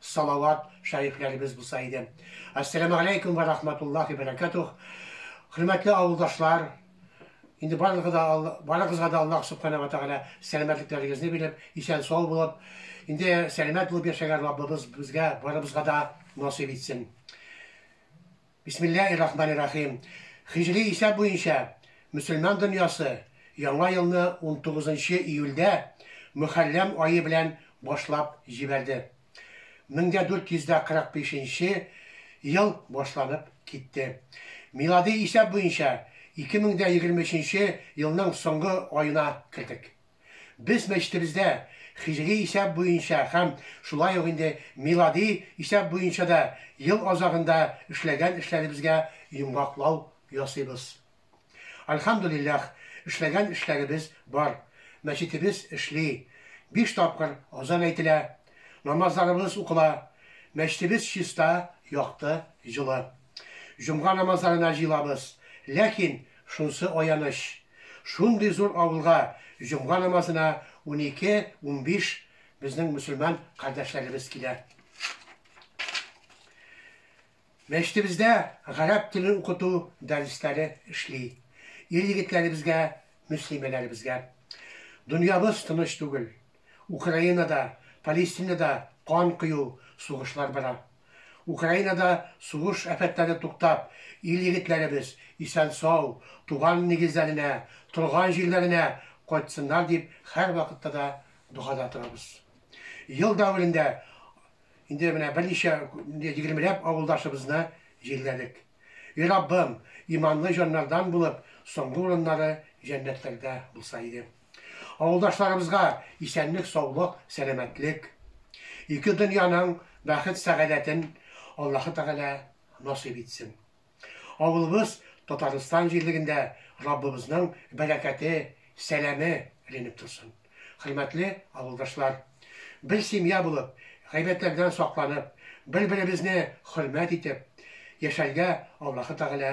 Салават шәрифләребез булса иде. Ассәламегаләйкүм вә рахматуллахи бәрәкәтүх. Хөрмәтле авылдашлар, инде барыгызга да барыгызга да Аллаһ Субхана вә Тәгалә сәламәтлекләрегезне биреп, исән-сау булып, инде сәламәт булып яшәргә Раббыбыз безгә барыбызга да насыйп итсен. Бисмиллаһи рахмани рахим. Һиҗри исәп буенча мөселман дөньясы Яңа елны унтугызынчы июльдә Мөхәррәм ае белән башлап җибәрде. Мең дә дүрт йөз дә кырык бишенче ел башланып китте. Милади исәп буенча ике мең дә егерме өченче елның соңгы аена кердек. Без мәчетебездә хиҗри исәп буенча һәм шулай ук инде милади исәп буенча да ел азагында эшләгән эшләребезгә йомгаклау ясыйбыз. Альхамдулилләх, эшләгән эшләребез бар, мәчетебез эшли, биш тапкыр азан әйтелә, намазларыбыз укыла, мәчетебез чиста, якты, җылы. Җомга намазларына җыелабыз, ләкин Шунсы аяныч, шундый зур авылга җомга намазына унике, унбиш безнең мөселман кардәшләребез килә. Мәчетебездә гарәп телен укыту дәресләре эшли. Ир-егетләребезгә, мөслимәләребезгә. Дөньябыз тыныч түгел. Украинада, Палестинада кан кою, сугышлар бара. Украинада сугыш афәтләре туктап, ил-егетләребез исән-сау, туган нигезләренә, торган җирләренә кайтсыннар дип һәрвакытта да догада торабыз. Ел дәверендә инде менә берничә, егермеләп авылдашыбызны җирләдек. И Раббым, иманлы җаннардан булып, соңгы урыннары җәннәтләрдә булса иде. Авылдашларыбызга исәнлек саулык, сәламәтлек, ике дөньяның бәхет сәгадәтен Аллаһы Тәгалә насыйп итсен. Авылыбыз Татарстан җирлегендә Раббыбызның бәрәкәте, сәламе эленеп торсын. Хөрмәтле авылдашлар! Бер семья булып, гайбәтләрдән сакланып, бер-беребезне хөрмәт итеп яшәргә Аллаһы Тәгалә